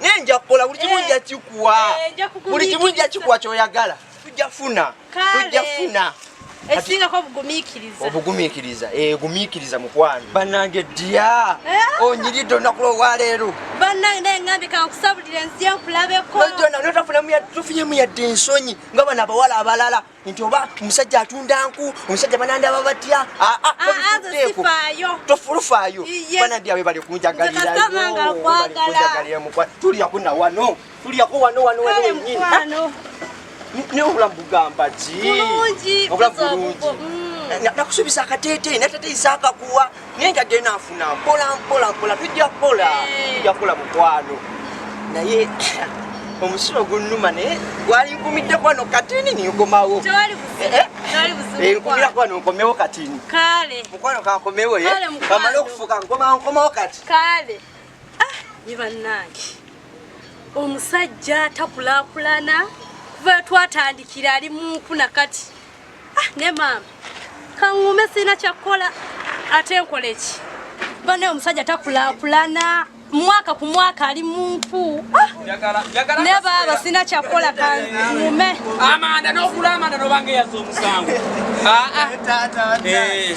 naye nja kukola buli kimu eh. nja kikuwa eh, buli kimu nja kikuwa kyoyagala tujja funa tujja funa esingako obugumikiriza obugumikiriza eh, gumikiriza mukwano banange dya eh? onyiridde olunaku lwowaleero banange naye ngambi kankusabulira ensi yenkulabeko nojona notafunamu tufunyemu yadde ensonyi nga bano abawala abalala nti oba omusajja atunda nku omusajja banandaba batya ah, ah, ah, tofulufaayo banandi awe bali kunjagaliratuliyako na wano tuliyako wano wano wano wenyini naye obulamu bugamba ki obulamu bulungi mm. nakusuubiza akateeteyi natateyisa akakuwa naye nga genda nfuna mpola mpola mpola tujja kukola eh. tujja kukola mukwano naye omusulo gunnuma naye gwali nkumidde kwano katini ninkomawo eh, eh. nkumira kwano nkomewo katini mukwano kankomewo kamale okufuka nkomawo kati ah, ye bannange omusajja takulakulana kuva twatandikira ali munkuna kati Ah, ne maama kaŋŋuume sirina kyakkola ate nkole ki bane omusajja takulakulana mwaka ku mwaka ali munku ah! ne baaba sirina kyakkola kaŋŋuume amanda n'okula amanda nobanga eyaza omusango ah, ah. eh.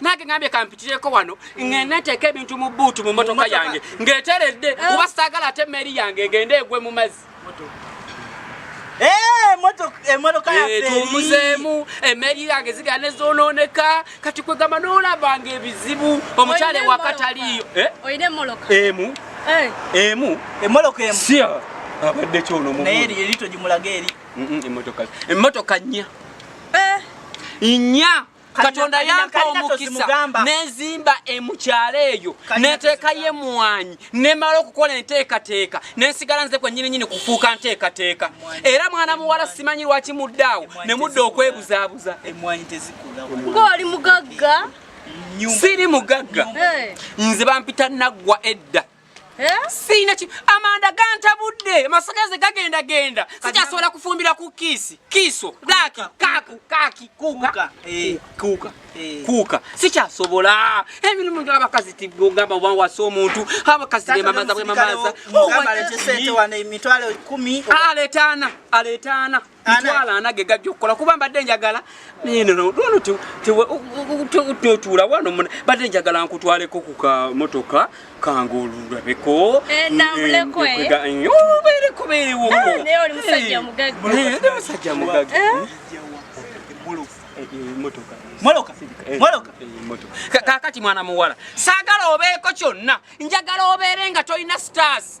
nange ngambye kampitireko wano ngenda nteeka ebintu mu buutu mu motoka yange ng'eteredde eh. kuba saagala ate emmeeri yange egende egwe mu mazzi tumuzeemu eh, emmeeri yange zigala ne zoonooneka kati kwegamba n'olabanga ebizibu omukyala ewakataliyo eh? emu emu emoloka emu siya abadde kyono mu naye eri eri tojimulaga eri emotoka emotoka nnya nnya katonda yampa omukisa nezimba emukyalo eyo neteekayo emwanyi nemala okukola enteekateeka nensigala nze kwenyininyini kufuuka nteekateeka era mwana muwala simanyi lwaki muddaawo nemudda okwebuzaabuza ngaoli mugagga siri mugagga nze bampita naggwa edda Eh? Sina ki amanda ganta budde masagaze gagenda genda sija sola kufumbira ku kisi kiso laki kaku kaki kuka eh kuka eh. kuka sija sobola ebintu mundu abakazi tibwo gamba wa waso omuntu abakazi ne mamaza bwe mamaza oh, gamba le sete wana emitwale 10 aletana aletana itwala anage gajja okukola kuba mbadde njagala totuula wano mbadde njagala nkutwaleko ku kamotoka kange olulabeko obeerekobeerewomusajja mugaga kakati mwana muwala saagala obeeko kyonna njagala obeere nga tolina stars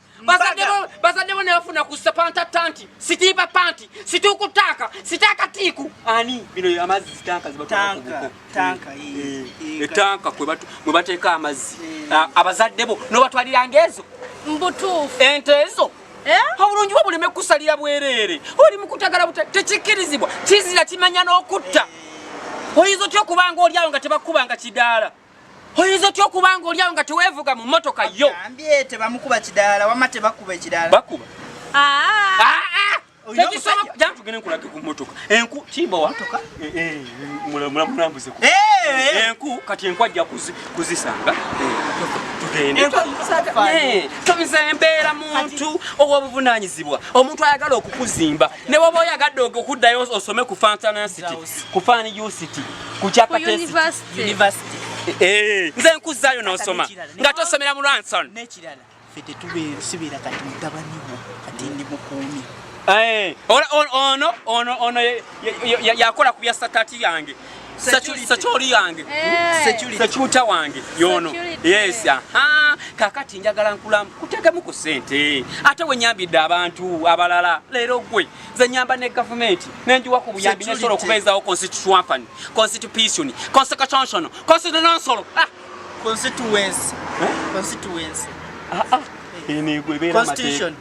bazadde bo nebafuna ku sapanta tanti sitiiba panti situuku taaka sitaaka tiiku ani bino amazzi zitanka etanka eh, eh, eh, mwe bateeka amazzi ah, abazadde bo nobatwaliranga ezo mbutuufu ente ezo obulungi bwo buleme kusalira bwereere oli mukutagala tekikkirizibwa kizira kimanya n'okutta oyinza otya okubanga olyawo nga tebakubanga kidaala oyinza otya okuba nga olyawo nga teweevuga mu mmotoka yo tebamukuba kidaala wama tebakuba ekidaala bakuba ah. Ah, ah. tekisoboka jaa tugende nkulage ku mmotoka enku kibowa eh, eh, mulamulambuze eh, enku kati enku ajja kuzisanga tugendetomisa embeera muntu ow'obuvunaanyizibwa omuntu ayagala okukuzimba ne woba oyagadde okuddayo osome ku fantanasity ku fani usity ku kyakauniversity eh, nze nkuzzayo n'osoma nga tosomera mu lwanson nekirala fe tetubeera kati mutabani wo kati ndi mukuumi eh, ono ono ono yakola ku bya satati yange sekyoli yange sekyuta wange yono yes aha kakati njagala nkulamu kutegemu ku sente ate wenyambidde abantu abalala leero gwe nze nyamba ne gavumenti nenjiwa ku buyambi nesobola okubeezawo constitution constitution constitution constitution ah! constituency eh? constituency ah, ah.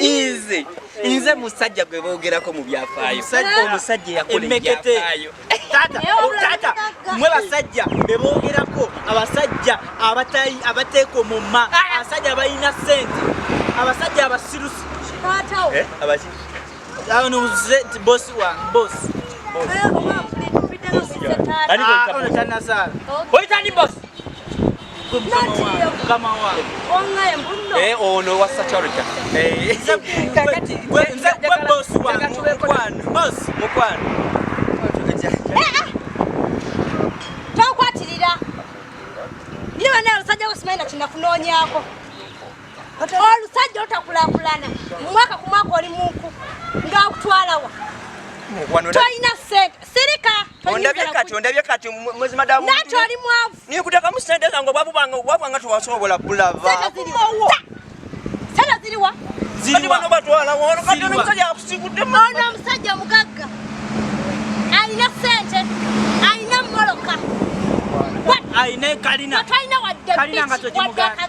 nze nze musajja gwe boogerako mu byafaayo omusajja eyakola ebyafaayo taata mwe basajja be boogerako abasajja abateeka omumma ah! abasajja abalina sente abasajja abasirusi eh, abanuze nti bosi wange bosi eh, ah, Eh, ono oh, wasa charita eh, tokwatirira ye bana olusajja wesimaina kinakunoonyako olusajja otakulakulana mumwaka ku mwaka oli munku ngaakutwalawa tolina sente sirika ondabye kati ondabye kati mwezi madamu nati oli mwavu Nikutekamu sente zange obwavu bwange obwavu bwange tewasobola bulava. Sala ziriwa? Ziriwa. Bano batwala wono kati ono musajja akusikudde mu. Ono musajja mugagga. Alina sente. Alina moloka. Alina kalina. Kalina nga tojimugana.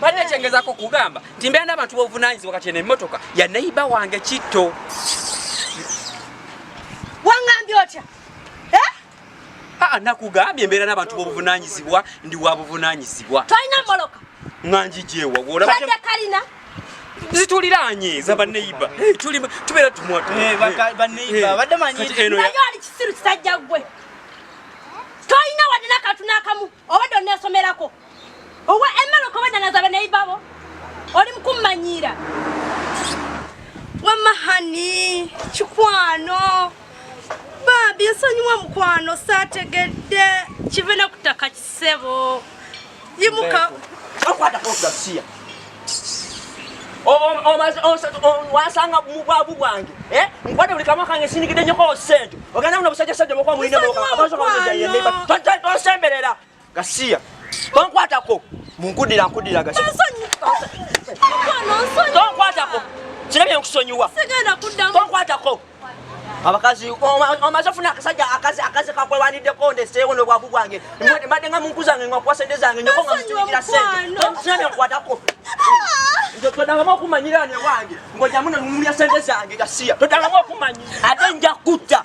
Banne kyengezako kugamba nti mbeera n'abantu b'obuvunaanyizibwa kati eno emmotoka ya neyiba wange kitto. Wangambye otya? Eh? Aa nakugambye mbeera n'abantu b'obuvunaanyizibwa ndi wa buvunaanyizibwa. Tolina mmoloka? Nga ngijeewa wolaba. Tadde kalina? zituliraanye za baneiba eh, tubeera tumwatubaneibabaddemanyieno owa emmere okobadanaza abaneibabo oli mukummanyiira wamma hani kikwano baabi nsonyiwa mukwano saategedde kive ne ku ttaka kisebo yimuka wasanga mubwavu bwange eh? nkwate buli kamwa kange sinigide nyoko sente ogenda muno busajja sajja mukwa mulina mukwa abazo kange jaye neba tosemberera Gasiya. Tonkwatako. Munkudira nkudira gasiya. Tonkwatako. Kirabye nkusonyiwa. Sigenda kuddamu. Tonkwatako. abakazi omaze ofuna akasajja akazi akazi kakwewaniddeko ndeseewo nobwavu bwange mbadde nga munku zange ngakuwa sente zange nyoko nga mukiikira sente okusina byenkwatako ah! todangamu okumanyira ne wange ngojamu nemumulya sente zange gasiya todangamu okumanyi ate nja kutta